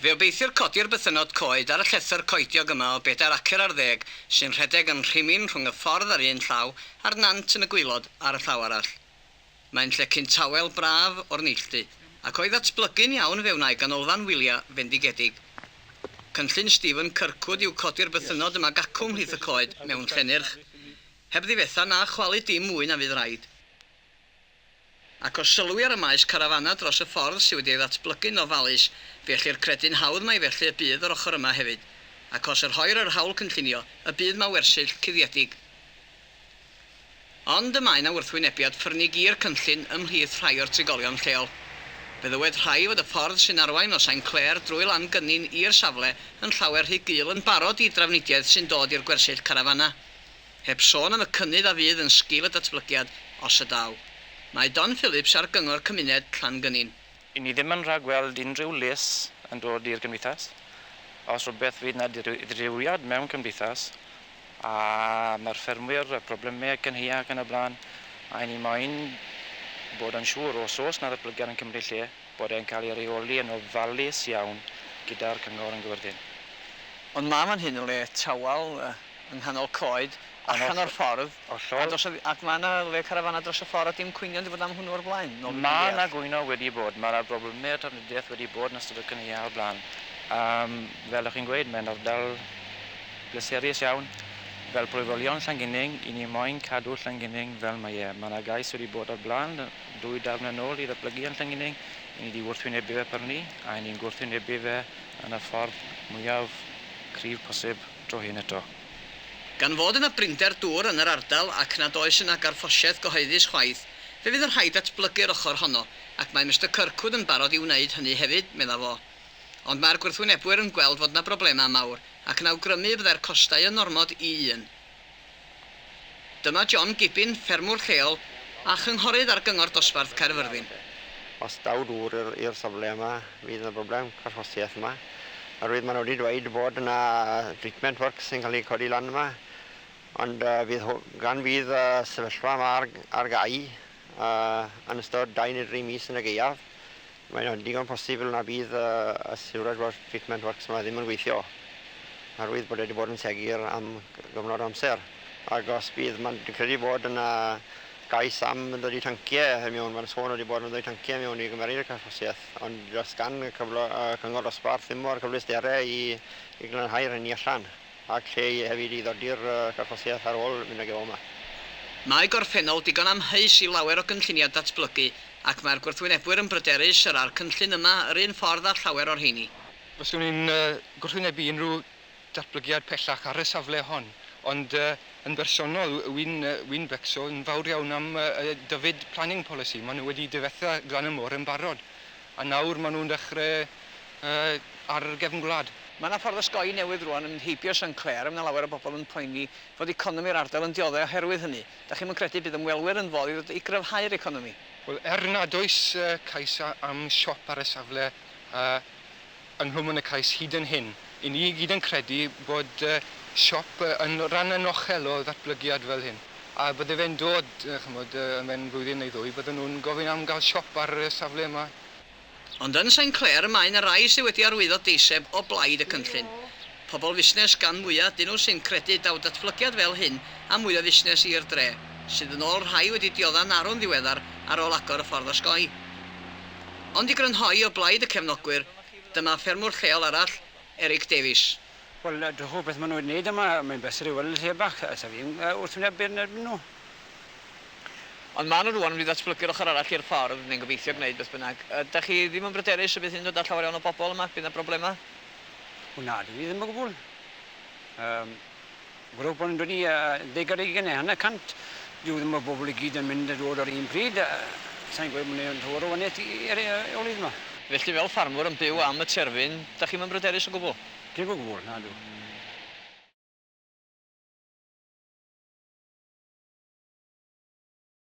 Fe obeithiir codi'r bythynnod coed ar y llethr coediog yma o bedair acer ar ddeg sy'n rhedeg yn rhimyn rhwng y ffordd ar un llaw a'r nant yn y gwaelod ar y llaw arall. Mae'n llecyn tawel braf o'r neilltu, ac o'i ddatblygu'n iawn fe wna'i ganolfan wyliau fendigedig. Cynllun Stephen Kirkwood yw codi'r bythynnod yma gacw ymhlith y coed mewn llenyrch, heb ddifetha na chwalu dim mwy na fydd raid. Ac os sylwi ar y maes carafanau dros y ffordd sydd wedi ei ddatblygu'n ofalus, fe ellir credu'n hawdd mai felly y bydd yr ochr yma hefyd. Ac os y rhoir yr hawl cynllunio, y bydd 'ma wersyll cuddiedig. Ond y mae 'na wrthwynebiad ffyrnig i'r cynllun ymhlith rhai o'r trigolion lleol. Fe ddywed rhai fod y ffordd sy'n arwain o Sain Clair drwy Lan Gynin i'r safle yn llawer rhy gul yn barod i drafnidiaeth sy'n dod i'r gwersyll carafanau. Heb sôn am y cynnydd a fydd yn sgil y datblygiad, os ydaw. Mae Don Phillips ar Gyngor Cymuned Llangynin. Ŷn ni ddim yn rhagweld unrhyw les yn dod i'r gymdeithas. Os rhywbeth fydd 'na ddirywiad mewn cymdeithas a mae'r ffermwyr a problemau ac yn hea ac yn y blaen a 'yn ni moyn bod yn siŵr os oes 'na ddatblygiad yn cymryd lle bod e'n cael ei reoli yn ofalus iawn gyda'r cyngor yn gyfyrddin. Ond ma' fan hyn yn le tawel. yng nghanol coed, allan o'r ffordd, ac mae yna le carafanau dros y ffordd a dim cwynion wedi bod am hwnnw o'r blaen, nôl be dwi'n deall. Mae yna gwyno wedi bod, mae yna broblemau trafnidiaeth wedi bod yn ystod y cynulliau o'r blaen. Fel o'ch chi'n gweud, mae'n ardal bleserus iawn. Fel plwyfolion Llangunig, 'y ni moyn cadw Llangunig fel mae e. Mae yna gais wedi bod o'r blaen ddwy dawn yn ôl i ddatblygu yn Llangunig, 'y ni 'di wrthwynebu fe prynu, a 'y ni'n gwrthwynebu fe yn y ffordd mwyaf cryf posib. dro hyn eto. Gan fod yna brinder dŵr yn yr ardal ac nad oes yna garffosiaeth gyhoeddus chwaith, fe fydd yn rhaid datblygu'r ochr honno, ac mae Mister Kirkwood yn barod i wneud hynny hefyd, medda fo. Ond mae'r gwrthwynebwyr yn gweld fod yna broblemau mawr ac yn awgrymu y byddai'r costau yn ormod i un. Dyma John Gibbin, ffermwr lleol a chynghorydd ar Gyngor Dosbarth Caerfyrddin. Os daw dŵr i'r i'r safle yma fydd yna broblem carchosiaeth yma. Oherwydd ma' nw wedi dweud bod yna treatment works yn ca'l eu codi lan yma ond yy fydd hw- gan fydd y sefyllfa yma ar ar gau yy yn ystod dau neu dri mis yn y gaeaf Mae'n digon posibl na bydd y Sewrage Wash Treatment Works yma ddim yn gweithio oherwydd bod e wedi bod yn segur am gyfnod o amser ac os bydd, mae'n credu bod yna gais am ddod i tanciau i mewn, mae'n sôn wedi bod yn ddod i tanciau i mewn i gymeryd y carthffasiaeth ond does gan y cyngor dosbarth ddim o'r cyfleusterau i glanhau'r hynny allan. Ac lle i hefyd i ddodi'r carthosiaeth ar ôl mynd ag e o 'ma. Mae gorffennol digon amheus i lawer o gynlluniau datblygu ac mae'r gwrthwynebwyr yn bryderus yr a'r cynllun yma yr un ffordd â llawer o'r rheini. Fyswn i'n gwrthwynebu unrhyw ddatblygiad pellach ar y safle hon, ond yn bersonol wy'n becso yn fawr iawn am Dyfed Planning Policy, maen nhw wedi difetha glan y môr yn barod. A nawr maen nhw'n dechrau ar y gefn gwlad. Mae 'na ffordd osgoi newydd rŵan yn heibio San Clair a mae 'na lawer o bobl yn poeni fod economi'r ardal yn dioddef oherwydd hynny. Dach chi'm yn credu bydd ymwelwyr yn fodd i ddod i gryfhau'r economi? Wel, er nad oes cais am siop ar y safle, yng Nghwm Ynacais hyd yn hyn. I ni i gyd yn credu bod siop yn rhan anochel o ddatblygiad fel hyn, a bydde fe'n dod, ch'mod, mewn blwyddyn neu ddwy, bydden nhw'n gofyn am gael siop ar y safle yma. Ond yn Saint Clair mae 'na rai sy' wedi arwyddo deiseb o blaid y cynllun. Pobl fusnes gan mwya dyn nhw sy'n credu daw datblygiad fel hyn a mwy o fusnes i'r dre, sydd yn ôl rhai wedi diodda'n arw'n ddiweddar ar ôl agor y ffordd osgoi. Ond i grynhoi o blaid y cefnogwyr, dyma ffermwr lleol arall, Eric Davies. Wel, dwch wybod beth maen nhw wedi wneud yma, mae'n bleser i weld y lle bach, sa fi'n wrthwyneb byd yn erbyn nhw. Ond maen nhw rŵan wedi datblygu'r ochr arall i'r ffordd, neu'n gobeithio gwneud beth bynnag. Ydach chi ddim yn bryderus y bydd hyn yn dod â llawer iawn o bobl yma, bydd 'na broblemau? O na, dwi ddim o gwbl. Um, Gwrwch bod yn dod i uh, deg ar eigen neu hanner cant. Dwi ddim o bobl i gyd yn mynd a dod ar un pryd. Uh, Sa'n gwybod mwyn yn tywr o waniaeth i'r eolydd yma. Felly fel ffarmwr yn byw am y terfyn, da chi'n mymbryderus o gwbl? Dim o gwbl, na dw.